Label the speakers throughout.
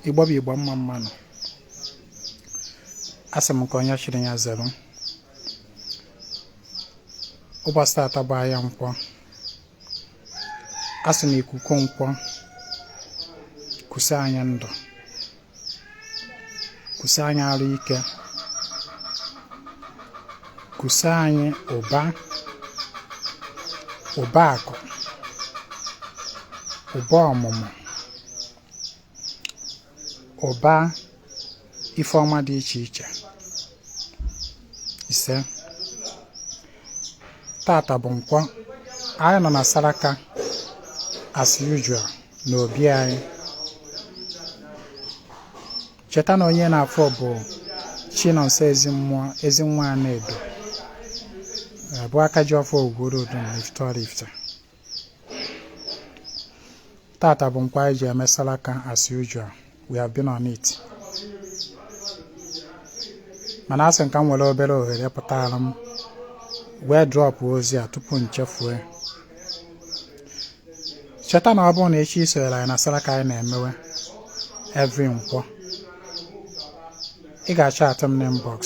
Speaker 1: Igbo bụ Igbo mma mma nụ asị m ka onye chiri ya zere ụbọchị tata bụ ahịa nkwọ asị m ikuku nkwọ kusa anyị ndụ kusa anyị arụ ike kusa anyị ụba ụba akụ ụba ọmụmụ ụba ife ọma dị iche iche ise tata bụ nkwọ anyị nọ na saraka as usual na obi anyị cheta na onye ị na-afụ bụ chinonso ezimmụọ ezi nwa anaedo bụ aka ji ọfọ ugworo odo na ifite oraifite tata bụ nkwọ anyị ji eme salaka as usual we have been on it mana asị m ka m nwere obere ohere pụtara m wee drọpụ ozi a tupu m chefue cheta na ọ bụrụ na ị chọ isonyere anyị na salaka anyị na-emewe every nkwọ ị ga-achat m n'inbox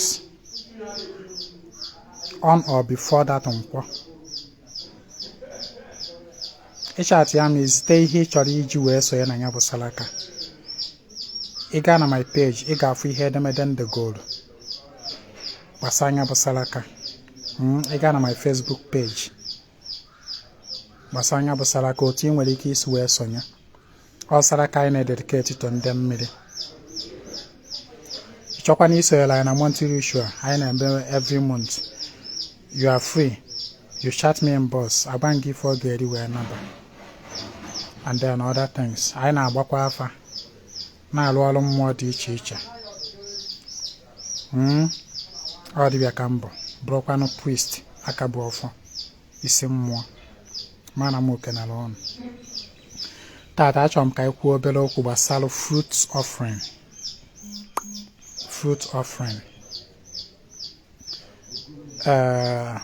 Speaker 1: on or before that nkwọ ị chatịa m ezite ihe ị chọrọ iji wee sonye na ya bụ salaka ị gaa na my page ị ga-afụ ihe edemede m degolu gbasara nya bụ salaka Mm, ị gaa na my facebook page gbasara nya bụ salaka otu ị nwere ike isi wee sonye ọ saraka anyị na-ededicate to ndị mmiri ị chọkwanụ isonyere anyị na monthly ritual anyị na-eme every month you are free you chat me inbox agwa m gị ife ọ ga-eri wee naba and then other things anyị na-agbakwa afa na-alụ ọrụ mmụọ dị iche iche hmm? ọ dịbịa ka m bụ bụrụkwanụ priest aka bu ọfọ isi mmụọ mana m ekenela unu tata achọrọ m ka anyị kwuo obere okwu gbasara fruit offering fruit offering uh,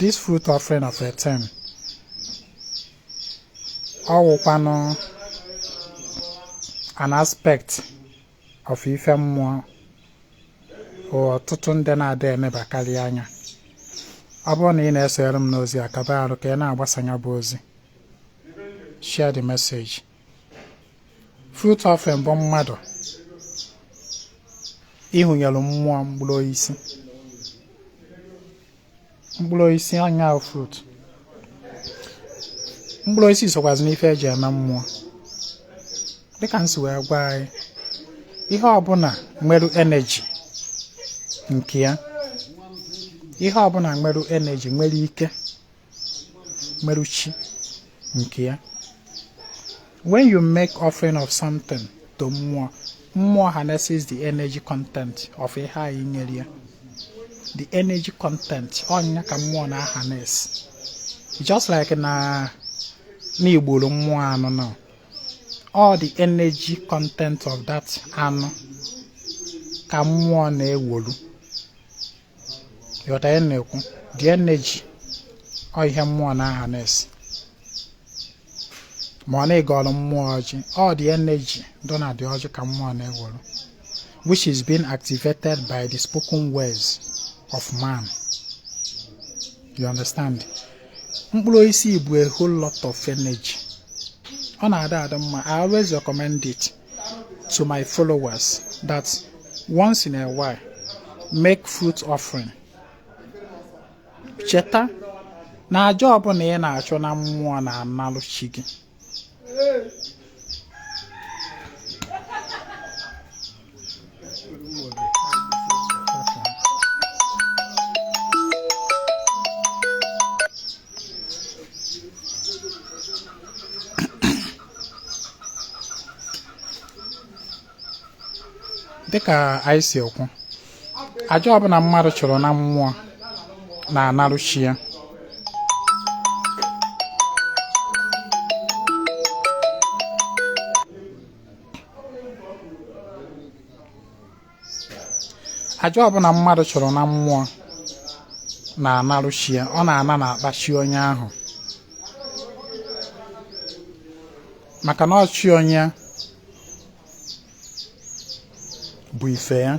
Speaker 1: this fruit offering of a thing ọ wụkwanụ an aspect of ife mmụọ ọtụtụ ndị na-ada enebakarị anya ọ bụrụ na ị na-esonyere m n'ozi a kaba arụ ka ị na-agbasa ya bụ ozi share the message fruit offering bụ mmadụ ihunyere mmụọ mkpụrụ osisi mkpụrụ osisi anya fruit mkpụrụ osisi sokwazi n'ife eji eme mmụọ dịka m si wee gwa anyị ihe ọbụla nwere energy nke ya ihe ọbụla nwere energy nwere ike nwere chi nke ya When you make offering of something to mmụọ, mmụọ harnesses the energy content of ihe anyị nyere ya. The energy content ọnya ka mmụọ na-harness. Just like na i gbuoro mmụọ anụ now all the energy content of that anụ ka mmụọ na-ewolu. ị ghọta ihe m na-ekwu the energy ọ ihe mmụọ na-harness ma ọ na ị gọrụ mmụọ ọjị ọ the energy dọ na the ọjị ka mmụọ na-ewolu which is being activated by the spoken words of man you understand mkpụrụ osisi bụ a whole lot of energy ọ na-ada adị mma I always recommend it to my followers that once in a while make fruit offering cheta na aja ọbụla ị na-achụ na mmụọ na-analụ chi gị dịka anyị si ekwu aja ọbụla mmadụ chụrụ na mmụọ na-anarụ chi ya aja ọbụla mmadụ chụrụ na mmụọ na-analụ chi ya ọ na-ana n'akpa chi onye ahụ maka na ọ chi onye bu ife ya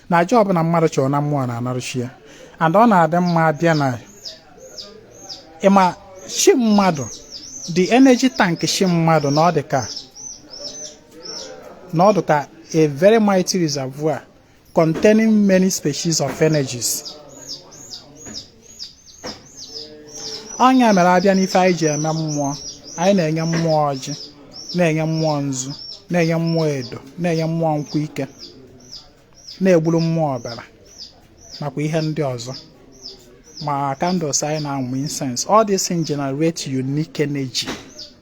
Speaker 1: na aja ọbụla mmadụ chụrụ na mmụọ na-anarụ chi ya and ọ na-adị mma abịa na ịma chi mmadụ the energy tank chi mmadụ na ọ dị ka a very mighty reservoir containing many species of energies ọnya mere abịa n'ife anyị ji eme mmụọ anyị na-enye mmụọ ọjị na-enye mmụọ nzu na-enye mmụọ edo na-enye mmụọ nkwụ ike na-egburu mmụọ ọbara nakwa ihe ndị ọzọ ma candles anyị na-amụ incense all this thing generate unique energy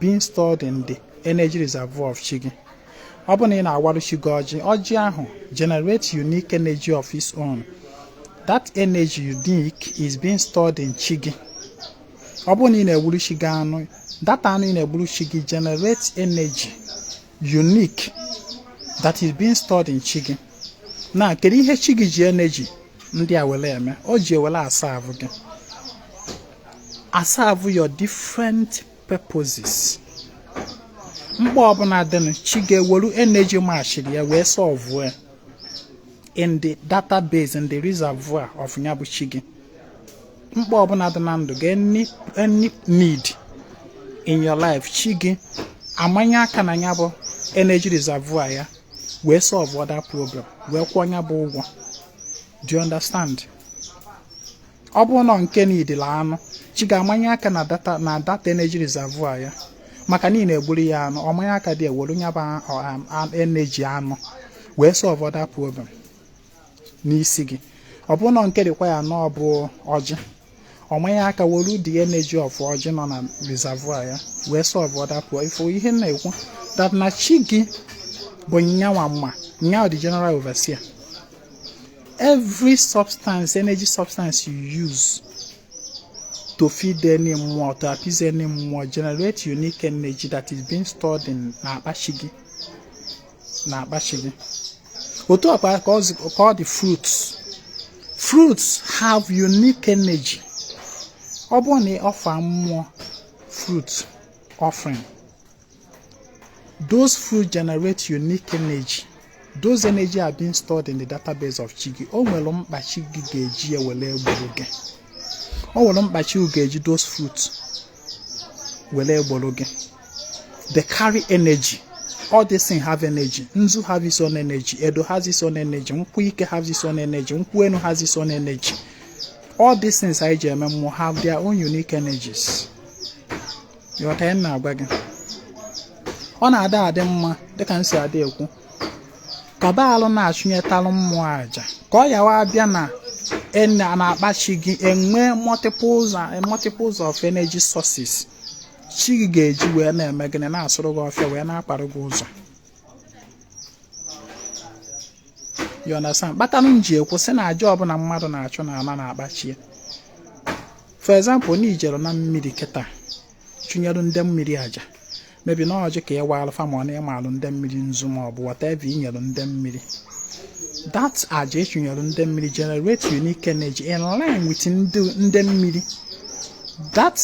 Speaker 1: being stored in the energy reservoir of chi gị ọ bụrụ na ị na-awarụ chi gị ọjị ọjị ahụ generate unique energy of its own that energy unique is being stored in chi gị ọ bụrụ na ị na-egburu chi gị anụ that anụ ị na-egburu chi gị generate energy unique that is being stored in chi gị now kedu ihe chi gị ji energy ndị a were eme o ji ewere a-serve gị a-serve your different purposes mkpa ọbụla dịnụ chi gị eweru energy matchiri ya wee solve ya in the database in the reservoir of nya bụ chi gị. mkpa ọbụla dị na ndụ gị any need in your life chi gị amanye aka na ya bụ energy reservoir ya wee solve other problem wee kwụọ ya bụ ụgwọ do you understand ọ bụrụ na nke needili anụ chi gị amanye aka na that energy reservoir ya maka na ị na-egburu ya anụ ọ manye aka there were ya bụ um, energy anụ wee solve other problem n'isi gị ọ bụrụ na nke require na ọ bụ ọjị ọ manye aka were the energy of ọjị nọ na reservoir ya wee solve other problem ị fụ ihe m na-ekwu that na chi gị bụ nyanwa mma nyanwa the general overseer every substance energy substance you use to feed any mmụọ to appease any mmụọ generate unique energy that is being stored in na akpa chi gị na akpa chi gị otu ọkpa ka ọ dị fruits fruits have unique energy ọ bụrụ na ị offer mmụọ fruit offering those fruits generate unique energy those energy are being stored in the database of chi gị o nwere mkpa chi gị ga-eji ya were egboro gị o nwere mkpa chi gị ga-eji those fruits were egboro gị they carry energy all these things have energy nzu have its own energy edo has its own energy nkwụ ike has its own energy nkwụ enu has its own energy all these things anyị ji eme mmụọ have their own unique energies ị ghọta ihe m na-agwa gị ọ na-ada adị mma dịka m si adị ekwu ka a balụ na-achụnyetalụ mmụọ aja ka ọ ya-awụ a bịa na e na akpa chi gị e nwee multiples of energy sources chi gị ga-eji wee na-eme gịnị na-asụrụ gị ọfịa wee na-akpara gị ụzọ you understand kpatanụ m ji ekwu sị na aja ọbụla mmadụ na-achụ na-ala na akpa chi for example na i jere na mmiri kịta chụnyere ndị mmiri aja maybe na ọjị ka ị waalụ fa ma ọ na ị malụ ndị mmiri nzu ma ọ bụ whatever i nyere ndị mmiri that aja ị chụnyere ndị mmiri generate unique energy in line with ndị mmiri that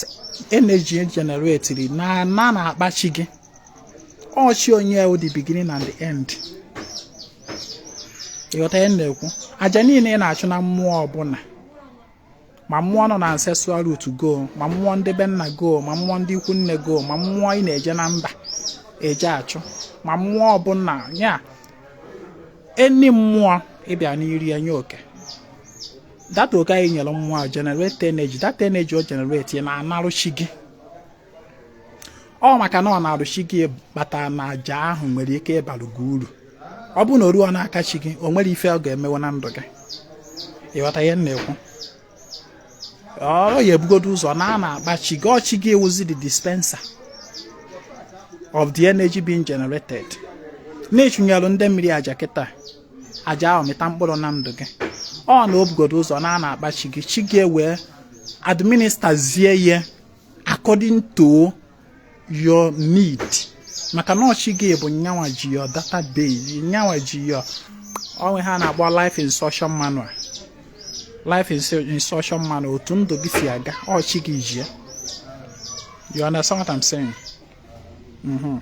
Speaker 1: energy e generatiri na-ana n'akpa chi gị ọ chi onye wụ the beginning and the end ị ghọta ihe na-ekwu aja niile ị na-achụ na mmụọ ọbụla ma mmụọ nọ na ancestral root gị o ma mmụọ ndị be nna gị o ma mmụọ ndị ikwu nne gị o ma mmụọ ị na-eje na mba eje achụ ma mmụọ ọbụla ya enyi mmụọ ị bịa n'iri enye oke that oke anyị nyere mmụọ ahụ generate energy that energy o generate na-anaru chi gị ọ maka na ọ naru chi gị kpata na aja ahụ nwere ike ịbalụ gị uru ọ bụrụ na o ruo n'aka chi gị o nwere ife ọ ga-emewe na ndụ gị ị ghọta ihe m na-ekwu ọ ya-ebugodo ụzọ naa n'akpa chi gị ọ chi gị wụzi the dispenser of the energy being generated na ị chụnyelụ ndị mmiri aja kịta aja ahụ mịta mkpụrụ na ndụ gị ọ na o bugodo ụzọ naa n'akpa chi gị chi gị ewee administerzie ya according to your need maka na ọ chi gị bụ nyanwa ji your database nyanwa ji your o nwee ihe a na-akpọ life instruction manual life instruction manual otu ndụ gị si aga ọ chi gị ji ya you understand what I'm saying mhm.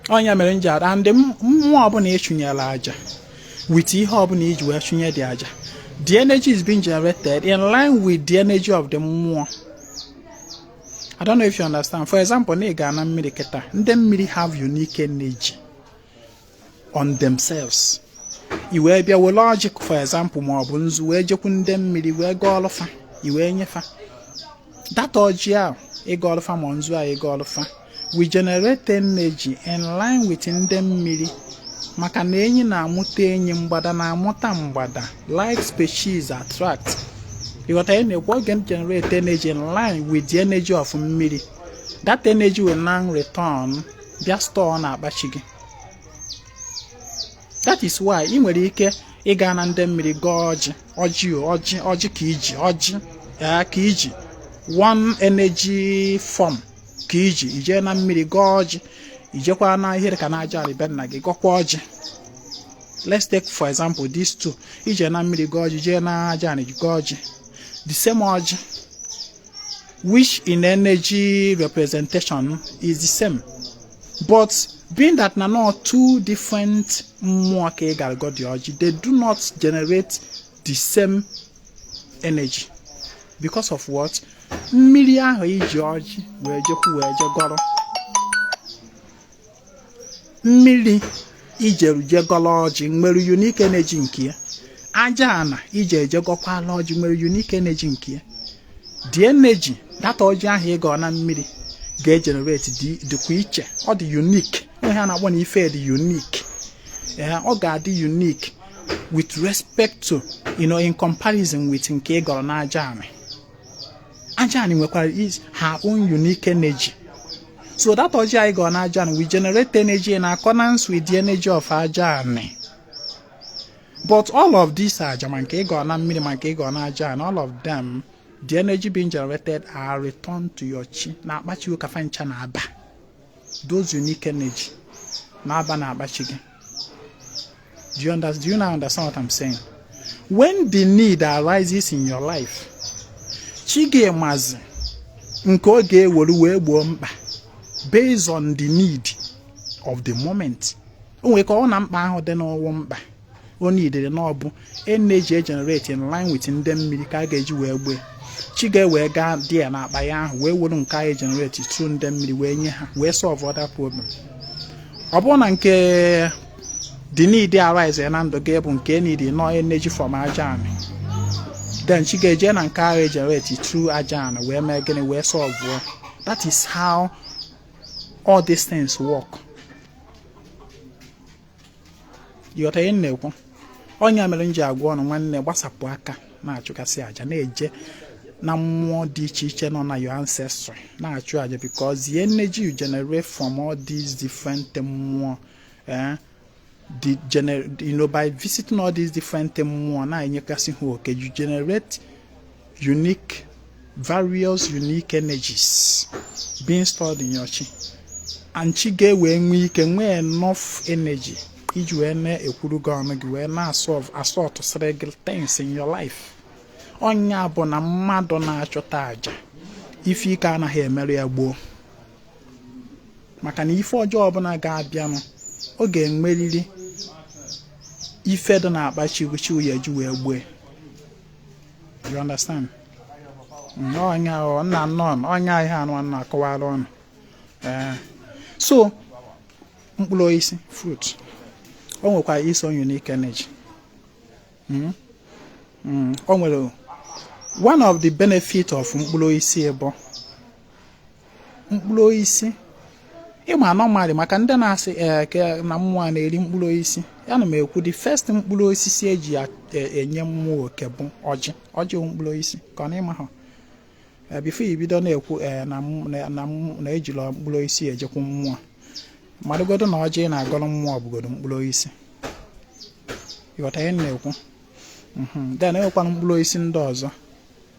Speaker 1: ọ nya mere m ji ada ndị mmụọ ọbụla ị chụnyere aja with ihe ọbụla i ji wee chụnye the aja the energy is being generated in line with the energy of the mmụọ I don't know if you understand. For example, na ị gaa na mmiri kịta ndị mmiri have unique energy. on themselves i wee bịa were ọjị for example ma ọ bụ nzu wee jekwu ndị mmiri wee gọọlụ fa i wee nye fa that ọjị ahụ ị gọọlụ fa ma nzu a ị gọọlụ fa will generate energy in line with ndị mmiri maka na enyi na-amụta enyi mgbada na-amụta mgbada like species attract ị ghọta ihe m na-ekwu oge o generate energy in line with the energy of mmiri that energy will now return bịa store n'akpa chi gị that is why ị nwere ike ịga na ndị mmiri gọọ ọjị ọjị ọjị ọjị ka i ji ọjị ee ka i ji one energy form ka i ji i jee na mmiri gọọ ọjị i jekwa na ihe ka na aja anị be nna gị gọkwa ọjị let's take for example these two i je na mmiri gọọ ọjị jee na aja anị gọọ ọjị the same ọjị which in energy representation is the same but being that na ọ two different mmụọ ka ị gara gọọ the ọjị they do not generate the same energy because of what mmiri ahụ i ji ọjị wee jekwu wee je gọrọ mmiri i jeru je gọla ọjị nwere unique energy nke ya aja ana i jeru je gọkwala ọjị nwere unique energy nke ya the energy that ọjị ahụ ị gọ na mmiri ga-generate dịkwa iche ọ dị unique ihe a na-akpọ na ife dị unique ee ọ ga-adị unique with respect to you know in comparison with nke ị gọrọ n'aja anị aja anị nwekwara her own unique energy so that ọjị anyị gọọ na aja anị will generate energy in accordance with the energy of aja anị but all of these aja ma nke ị gọ na mmiri ma nke ị gọ na aja anị all of them the energy being generated are returned to your chi na akpa chi ụ ka fa ncha na-aba those unique energy na-aba na akpa chi gị Do you, under, do you now understand what I'm saying? When the need arises in your life, chi gị amazi nke ọ ga-ewere wee gboo mkpa based on the need of the moment. O nwere ike ọ wụ na mkpa ahụ dịnụ wụ mkpa o needịrị na ọ bụ energy generate in line with ndị mmiri ka a ga-eji wee gboo ya chi gị ewee gaa dị ya n'akpa ya ahụ wee were nke anyị generate through ndị mmiri wee nye ha wee solve that problem ọ bụrụ na nke the need arise ya na ndụ gị bụ nke need nọ energy from aja anị then chi ga-eje na nke ahụ generate through aja anị wee mee gịnị wee solve that is how all these things work. ị ghọta ihe m na-ekwu ọ ya mere m ji agwa unu nwanne gbasapụ aka na-achụgasị aja na-eje na mmụọ dị iche iche nọ na your ancestry na-achụ aja because the energy you generate from all these different mmụọ eh, the gener you know by visiting all these different mmụọ na-enyegasị ha oke you generate unique various unique energies being stored in your chi and chi gị ewee nwee ike nwee enough energy iji wee na-ekwuru gị ọnụ gị wee na-asolve asortụsịrị gị things in your life ọ ya bụ na mmadụ na-achụta aja ife ike anaghị emerụ ya gboo maka na ife ọjọọ ọbụla ga-abịanụ ọ ga-enweriri ife dị na akpa chi ụ chi ụ ya-eji wee gboo ya you understand mm, onye ahụ nna nnọọ ọ ya ihe a nụwa na-akọwara unu eh, so mkpụrụ osisi fruit o nwekwara its own unique energy mm, mm, o nwere one of the benefit of mkpụrụ osisi bụ mkpụrụ osisi ịma normally maka ndị na-asị eke eh, na mmụọ a na-eri mkpụrụ osisi ya na m ekwu the first mkpụrụ osisi eji eh, enye mmụọ oke bụ ọjị ọjị mkpụrụ osisi ka ọ na ịma ha eh, before ibido na-ekwu na ejila mkpụrụ osisi ejekwu mmụọ marụgodo na ọjị na-agọrọ mmụọ bụgodo mkpụrụ osisi ịghọta ihe na-ekwu mhm. then enwekwana mkpụrụ osisi ndị ọzọ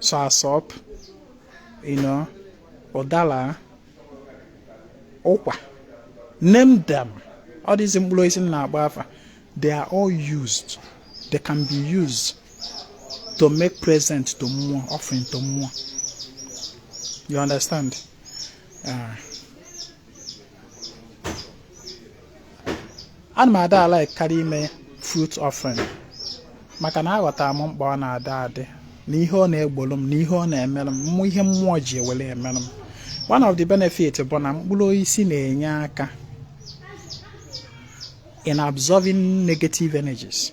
Speaker 1: soursop you know ụdara ụkwa name them all these mkpụrụ osisi na-agba afa they are all used they can be used to make present to mmụọ offering to mmụọ you understand uh, ana m ada alikekarị ime fruit offering maka na aghọtara m mkpa ọ na-ada adị na ihe ọ na-egbolu m na ihe ọ na-emere m mmụ ihe mmụọ ji ewere emere m one of the benefit bụ na mkpụrụ osisi na-enye aka in absorbing negative energies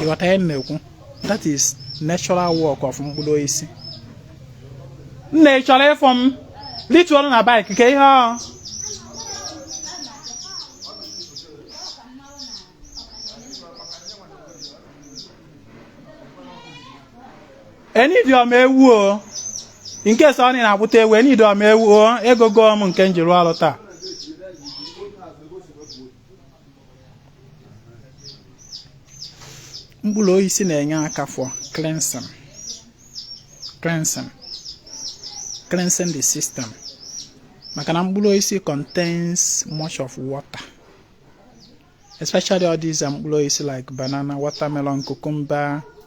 Speaker 1: ịghọta ihe m na-ekwu that is natural work of mkpụrụ osisi nna ị chọrọ ịfụ m lituolu na bike ka ihe ọ enidiọm ewu o nke sọ ọ na-agbụta ewu enidiọm ewu o ego gom nke njiri ọrụ taa mkpụrụ osisi na-enye aka for cleansing cleansing cleansing the system maka na mkpụrụ osisi contains much of water especially all these um, mkpụrụ osisi like banana watermelon cucumber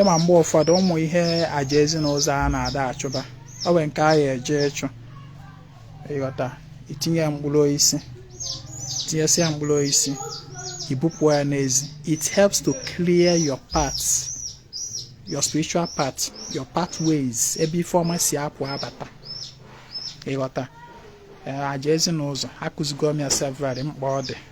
Speaker 1: ịma mgbe ụfọdụ ụmụ ihe aja ezi na ụzọ a na-ada achụba o nwee nke a ya eje ịchụ ịghọta itinye mkpụrụ osisi tinyesịa mkpụrụ osisi ibupụ ya n'ezi it helps to clear your path your spiritual path your pathways ebe ife ọma si apụ abata ịghọta aja ezi na ụzọ akụzigo m ya severally mkpa ọ dị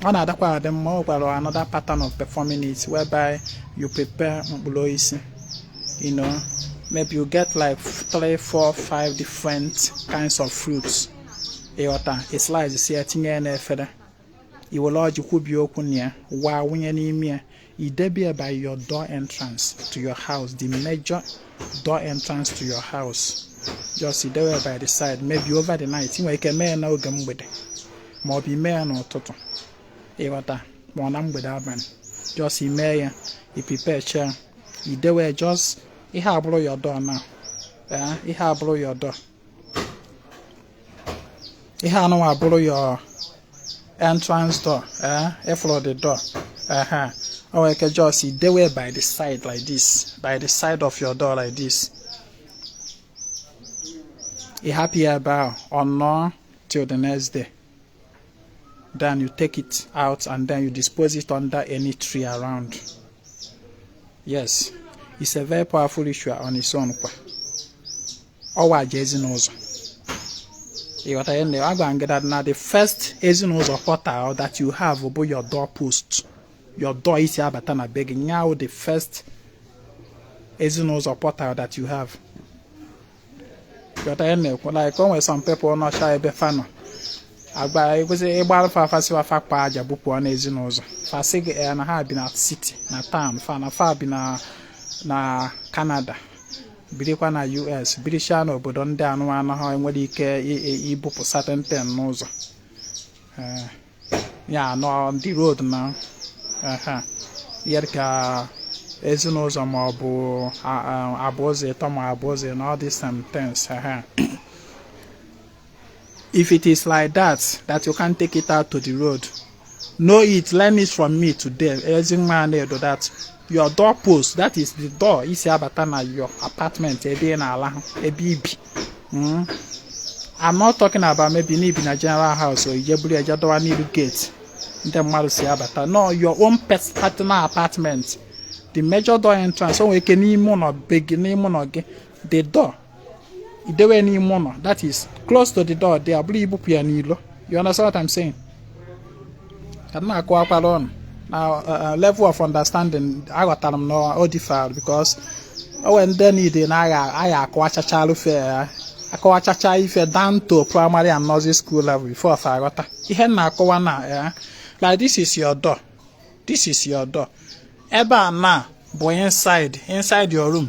Speaker 1: ọ na-adakwa adị mma ọ gwara another pattern of performing it whereby you prepare mkpụrụ osisi you know maybe you get like three four five different kinds of fruits ịghọta islicesịa ya tinye ya n'efere iwere ọjị kwubie okwu na ya waa wụnye n'ime ya I debe ya by your door entrance to your house, the major door entrance to your house. Just i debe ya by the side, maybe over the night. I nwe ike mee n'oge mgbede ma ọ bụ i mee ya n'ụtụtụ ị ghọta ma ọ na mgbede abalị just i mee ya i prepare chaa i dewe just ihe a bụrụ your door now eh, ihe a bụrụ your door ihe a nụnwa bụrụ your entrance door eh ị fụrụ the door ehe o nwere ike just i dewe by the side like this by the side of your door like this ị hapụ ya ebe ahụ ọ nọọ till the next day then you take it out and then you dispose it under any tree around yes it's a very powerful ritual on its own kwa ọ wụ aja ezinụzọ ị ghọta ya na agwa m gị that na the first ezinụzọ portal that you have bụ your door post your door i si abata na be gị nya wụ the first ezinụzọ portal that you have ị ghọta ihe a na-ekwu like o nwere some people nọcha ebe fa nọ agba ekwesị ịgba afa afa sịwa fa kpaa aja bupụ na ezinụzọ fa sị gị eh, na ha bi na city na town fa na fa bi na na Canada birikwa na US birichaa n'obodo ndị a nụwa na ha enwerọ ike ibupụ certain things n'ụzọ eh, ya on the road now ya ka ezinụzọ ma ọ bụ abụ ụzọ ịtọ ma abụ ụzọ ịnọ these certain things ehe If it is like that, that you can't take it out to the road, know it, learn it from me today. Ezi nwa Anaedo that your door post, that is the door i si abata na your apartment ebe ị na-alahụ, ebe i bi. Mm. I'm not talking about maybe na i bi na general house or i je buru aja dọwa n'iru gate ndị mmadụ si abata. No, your own pers- personal apartment. The major door entrance, o nwere ike n'ime ụlọ be gị, n'ime ụlọ gị. the door i dewe n'ime ụlọ that is close to the door there bụrụ i bupụ ya n'ilo you understand what I'm saying ka m na-akọwara ụnụ na uh, uh, level of understanding aghọtara m na ọ differ because o nwee ndị niile na a ga-akọwachachalụ ife a akọwachacha ife down to primary and nursery school level before fa aghọta ihe a na-akọwa na ya eh, like this is your door this is your door ebe a now bụ inside inside your room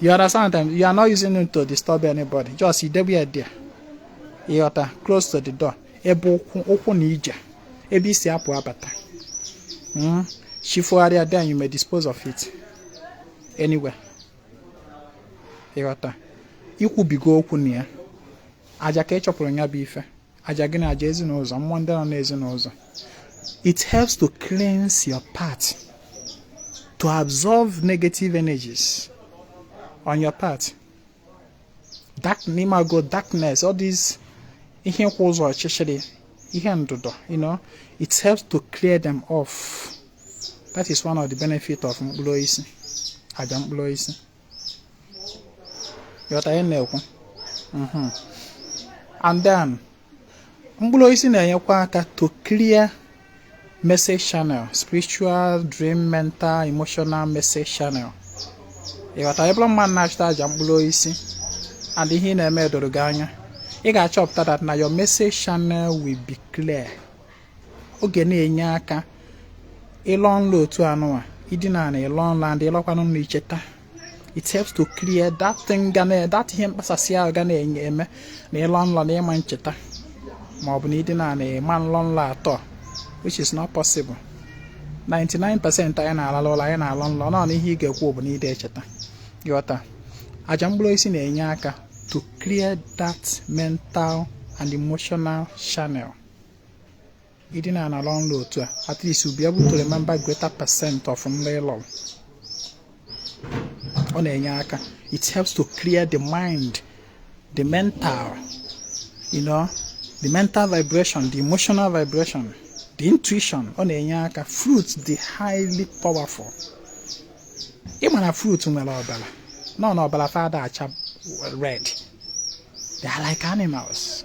Speaker 1: you understand me you are not using it to disturb anybody just i debe ya there ị ghọta close to the door ebe ụkwụ na ije ebe i si apụ abata hmm? chi fogharịa then you may dispose of it anywhere ị ghọta i kwubigo okwu na ya aja ka ị chọpụrụ ya bụ ife aja gị na aja ezinụzọ mmụọ ndị nọ n'ezinụzọ it helps to cleanse your path to absorb negative energies on your path dark ị mago darkness all these ihe kwụ ụzọ ọchịchịrị ihe ndụdọ you know it helps to clear them off that is one of the benefit of mkpụrụ osisi aja mkpụrụ osisi ị ghọta ihe m na-ekwu mhm. and then mkpụrụ osisi na-enyekwa aka to clear message channel spiritual dream mental emotional message channel ị ghọta ị bụrụ mmadụ na-achụta aja mkpụrụ osisi and ihe ị na-eme edoro gị anya ị ga-achọpụta that na your message channel will be clear ọ ga na-enye aka ịlọ nlọ otu anụwa ị dina ala ị lọ nlọ and ị lọkwanụ nlọ i cheta it helps to clear that thing ga na that ihe mkpasasị ahụ ga na-eme eme na ị lọ nlọ na ị ma ncheta ma ọ bụ na ị dina ala ị ma nlọ nlọ at all which is not possible 99% anyị na-alalụ ụla anyị na-alọ nlọ nọ ihe ị ga-ekwu bụ na ị dị echeta ị ghọta aja mkpụrụ osisi na-enye aka to clear that mental and emotional channel ị dina na-alọ nlọ otu a at least you'll be able to remember greater percent of nlọ ị lọrọ ọ na-enye aka it helps to clear the mind the mental you know the mental vibration the emotional vibration the intuition ọ na-enye aka fruit dị highly powerful ị ma na fruit nwere ọbara nọ na ọbara fa ada acha red they are like animals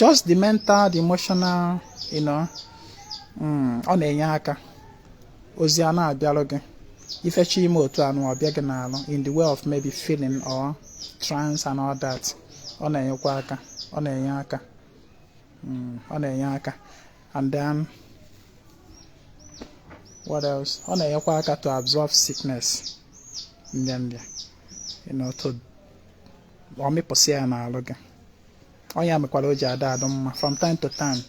Speaker 1: just the mental the emotional you know mm, ọ na-enye aka ozi a na-abịarụ gị ifechi ime otu anụ ọ bịa gị n'alụ in the way of maybe feeling or trance and all that ọ na-enyekwa aka ọ na-enye aka mm, ọ na-enye aka and then what else ọ na-enyekwa aka to absorb sickness nrịa nrịa you know to ọ mịpụsị ya n'alụ gị ọ ya mekwara o ji adị adị mma from time to time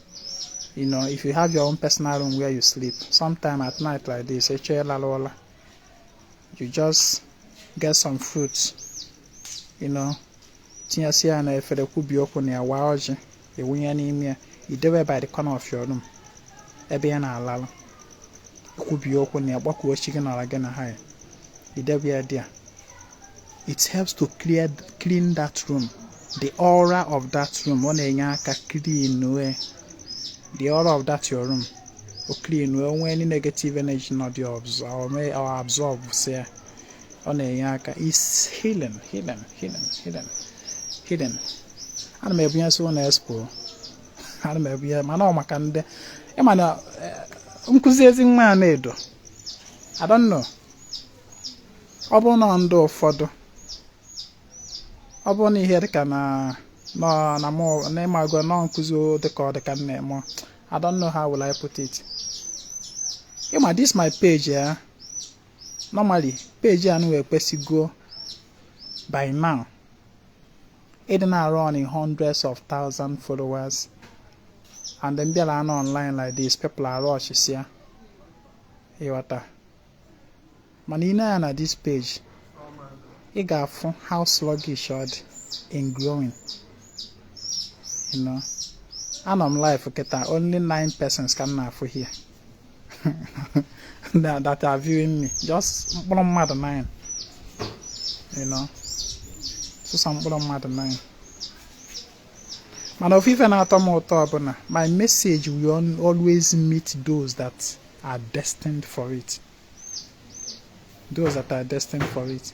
Speaker 1: you know if you have your own personal room where you sleep sometime at night like this ị chọ ịlalụ ụla you just get some fruits you know tinyesi ya n'efere kwubi okwu na ya waa ọjị ị wụnye n'ime ya i dewe by the corner of your room ebe ị ya na-alalụ i kwubie okwu na ya gbakwuo chi gị n'ala gị na ha ya i dewe ya there it helps to clear clean that room the aura of that room ọ na-enye aka clean wee the aura of that your room o clean wee nwee any negative energy nọ there absorb si ya ọ na-enye aka is healing healing healing healing healing ana m ebunye so na expo ana m ebunye mana ọ maka ndị ịma na eh, nkụzi Ezinwa Anaedo I don't know ọ bụ na ndị ụfọdụ ọ bụ na ihe dịka na nọ na mụ na ịmago nọ nkụzi dịka ọ dịka nne mụ I don't know how will I put it ịma this my page a eh? normally page a na ekwesịgo by now ịdị na-arun in hundreds of thousand followers and then m bịara anọ online like this people arush ya ịghọta mana i nee anya na this page ị ga-afụ how sluggish ọ dị in growing you know anọ m live kịta only nine persons ka m na-afụ here that are viewing me just mkpụrụ mmadụ nine you know sọsọ mkpụrụ mmadụ nine mana ofu ife na-atọ m ụtọ bụ na my message will always meet those that are destined for it those that are destined for it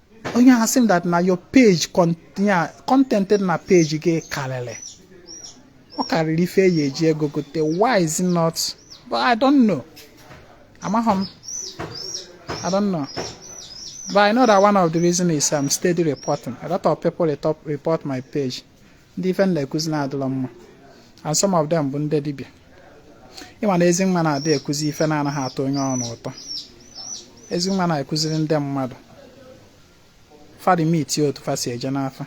Speaker 1: onye ahụ sị m that na your page content dị na page gị karịrị ọ karịrị ife eyi eji ego gote why is it not but i don't know amaghị m i don't know but i know that one of the reason is i'm um, steady reporting a lot of people report my page ndị ife m na-ekuzi na-adịrọ mma and some of them bụ ndị dibịa ịma na Ezinwa na-adị ekuzi ife na-anaghị atọ onye ọrụ ụtọ Ezinwa na-ekuziri ndị mmadụ fa limit otu fa si eje n'afa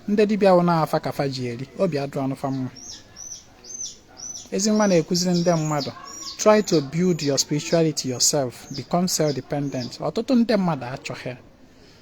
Speaker 1: ndị dibịa wụ na afa ka fa ji eri obi adịrọ fa mma Ezinwa na-ekuziri ndị mmadụ try to build your spirituality yourself become self-dependent ọtụtụ ndị mmadụ achọghị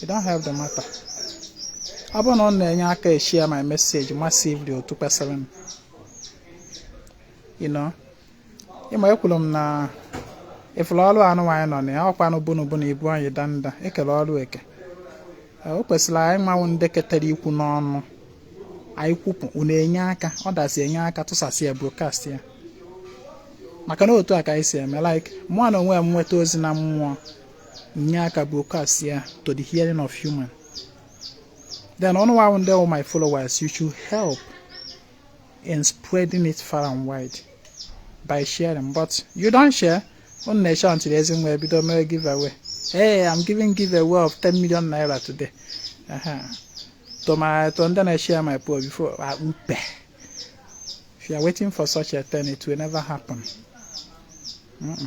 Speaker 1: you don't help the matter ọ bụrụ na ọ na-enye aka eshare my message massively otu kwesịrị m you know ịma ekwuru m na ife ọrụ anyị nwa nọ na ya ọkwanụ bunu bunu ibu anyị danda ekele ọrụ eke o kwesịrị anyị nwa ndị ketara ikwu n'ọnụ anyị kwupụ unu enye aka ọ dazi enye aka tụsasị ya broadcast ya maka na otu a ka anyị si eme like mụ na onwe m nweta ozi na mmụọ nye aka broadcast ya to the hearing of human then unu wụ ndị my followers you should help in spreading it far and wide by sharing but you don't share unu na-eche until Ezinwa ebido mewe giveaway hey i'm giving giveaway of 10 million naira today uh -huh. to my to ndị na-eshare my post before akpupe ah, if you are waiting for such a thing it will never happen mm -mm.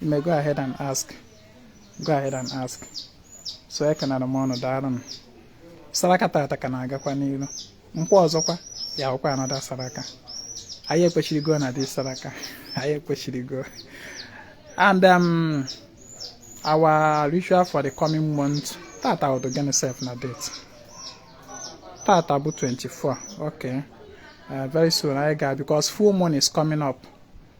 Speaker 1: You may go ahead and ask. Go ahead and ask. So I can add more on that. Saraka tata ka na-agakwa n'ilu. Nkwọ ọzọkwa ya-abụkwa another saraka. Anyị ekwechirigo na this saraka. Anyị ekwechirigo. And um, our ritual for the coming month tata bụdụ gịnị sef na date tata bụ 24 okay uh, very soon anyị ga because full moon is coming up